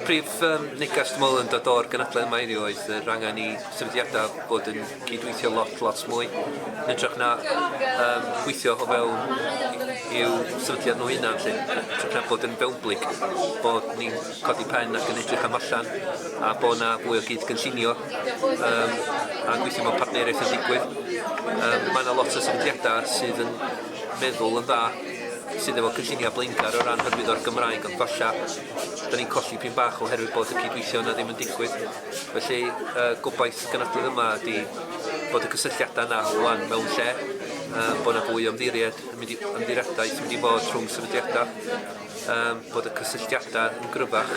Prif um, neges dwi'n meddwl yn dod o'r gynadledd yma heddiw oedd yr angen i sefydliadau bod yn cydweithio lot, lot mwy. Yn ytrach na um, gweithio o fewn i'w sefydliad nhw hunan lle, ytrach na bod yn fewnblyg, bod ni'n codi pen ac yn edrych am allan, a bod yna fwy o gyd gynllunio um, a gweithio mewn partneriaeth yn digwydd. Um, mae yna lot o sefydliadau sydd yn meddwl yn dda sydd efo cynlluniau blaengar o ran hyrwyddo'r Gymraeg ond falla da ni'n colli pin bach oherwydd bod y cydweithio yna ddim yn digwydd felly y gobaith gynadledd yma ydy bod y cysylltiadau yna rwan mewn lle um, bod yna fwy o ymddiried yn mynd i ymddiriadaeth yn mynd i fod rhwng sefydliadau um, bod y cysylltiadau yn gryfach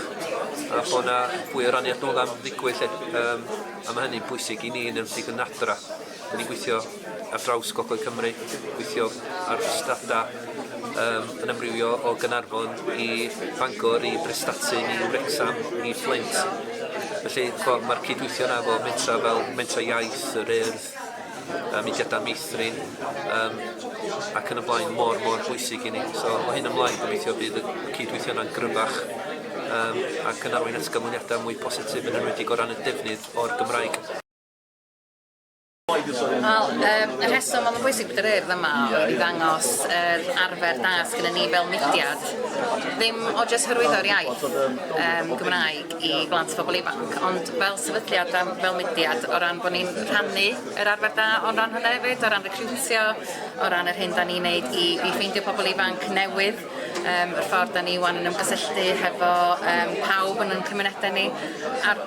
a bod yna fwy o raniad nôl am ddigwydd lle um, a mae hynny'n bwysig i ni yn ymwneud yn adra 'dyn ni'n gweithio ar draws gogledd Cymru, gweithio ar strada yym yn amrywio o Gaernarfon i Bangor i Brestatyn i Wrecsam i Fflint. Felly ch'mo' ma'r cydweithio 'na efo mentra fel Mentra Iaith, Yr Urdd, yy mudiada meithrin yym ac yn y blaen mor mor bwysig i ni. So o hyn ymlaen gobeithio bydd y cydweithio yna'n gryfach yym ac yn arwain at ganlyniada mwy positif yn enwedig o ran y defnydd o'r Gymraeg. Wel, um, y rheswm oedd yn bwysig bod yr urdd yma oedd i ddangos yr arfer da sydd gennym ni fel mudiad. Ddim o jyst hyrwyddo'r iaith um, Gymraeg i blant a phobl ifanc, ond fel sefydliad a fel mudiad o ran bod ni'n rhannu yr arfer da o'n ran hynny hefyd, o ran recriwtio, o ran yr hyn da ni'n neud i, i ffeindio pobl ifanc newydd. um, yr ffordd da ni wan yn ymgysylltu hefo um, pawb yn ein cymunedau ni, a'r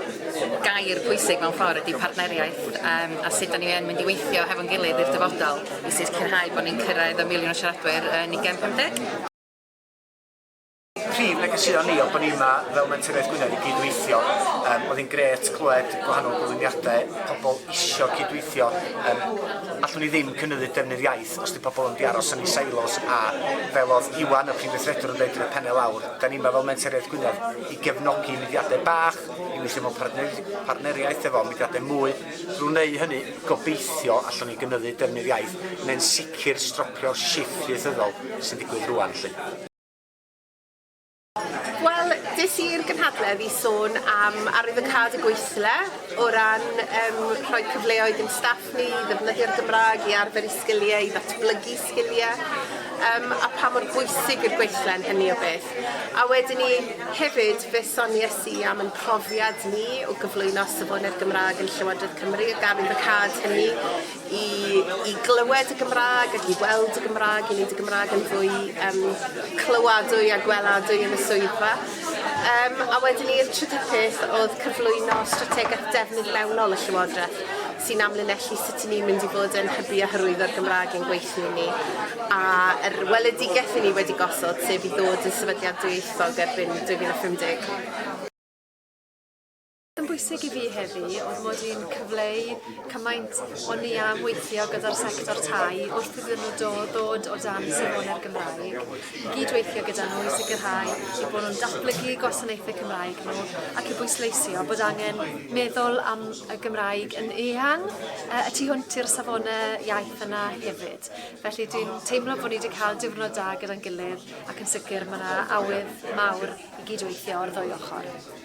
gair pwysig mewn ffordd ydy partneriaeth um, a sut da ni yn mynd i weithio hefo'n gilydd i'r dyfodol i sicrhau bod ni'n cyrraedd y miliwn o siaradwyr yn 2050. Prif negeseuon ni oedd bod ni yma fel Mentref Gwynedd i gydweithio. Um, oedd hi'n gret clywed gwahanol gyflwyniadau, pobl isio cydweithio. Um, allwn ni ddim cynyddu defnydd iaith Os 'di pobl yn mynd i aros yn eu silos a fel oedd Iwan, y Prif Weithredwr, yn dweud yn y penne lawr, da ni yma fel Mentoriaeth Gwynedd i gefnogi mudiadau bach, i weithio mewn partner- partneriaeth efo mudiadau mwy. Drwy wneud hynny, gobeithio, allwn ni gynyddu defnydd iaith neu'n sicr stropio'r shifft ieithyddol sy'n digwydd rŵan 'lly. Wel, des i'r gynhadledd i sôn am arwyddocâd y gweithle o ran um, rhoi cyfleoedd i'n staff ni i ddefnyddio'r Gymraeg, i arfer i sgiliau, i ddatblygu sgiliau, um, a pa mor bwysig i'r gweithle yn hynny o beth. A wedyn ni hefyd fe sonies i am yn profiad ni o gyflwyno safonau'r Gymraeg yn Llywodraeth Cymru ac arwyddocâd hynny i i glywed y Gymrâg ac i weld y Gymrâg i neud y Gymrâg yn fwy yym clywadwy a gweladwy yn y swyddfa. Yym a wedyn i'r trydydd peth o'dd cyflwyno strategeth defnydd mewnol y Llywodreth sy'n amlinellu sut 'yn ni'n mynd i fod yn hybu a hyrwyddo'r Gymrâg i'n gweithlu ni a yr weledigeth 'yn ni wedi gosod sef i ddod yn sefydliad dwyieithog erbyn 2050. Yn bwysig i fi heddi oedd mod i'n cyfleu cymaint o'n i am weithio gyda'r sector tai wrth iddyn nhw do, ddod o dan safonau'r Gymraeg, i gyd-weithio gyda nhw i sicrhau i bod nhw'n datblygu gwasanaethau Cymraeg nhw ac i bwysleisio bod angen meddwl am y Gymraeg yn eang uh, y tu hwnt i'r safonau iaith yna hefyd. Felly dwi'n teimlo bod ni wedi cael diwrnod da gyda'n gilydd ac yn sicr mae yna awydd mawr i gyd-weithio o'r ddwy ochr.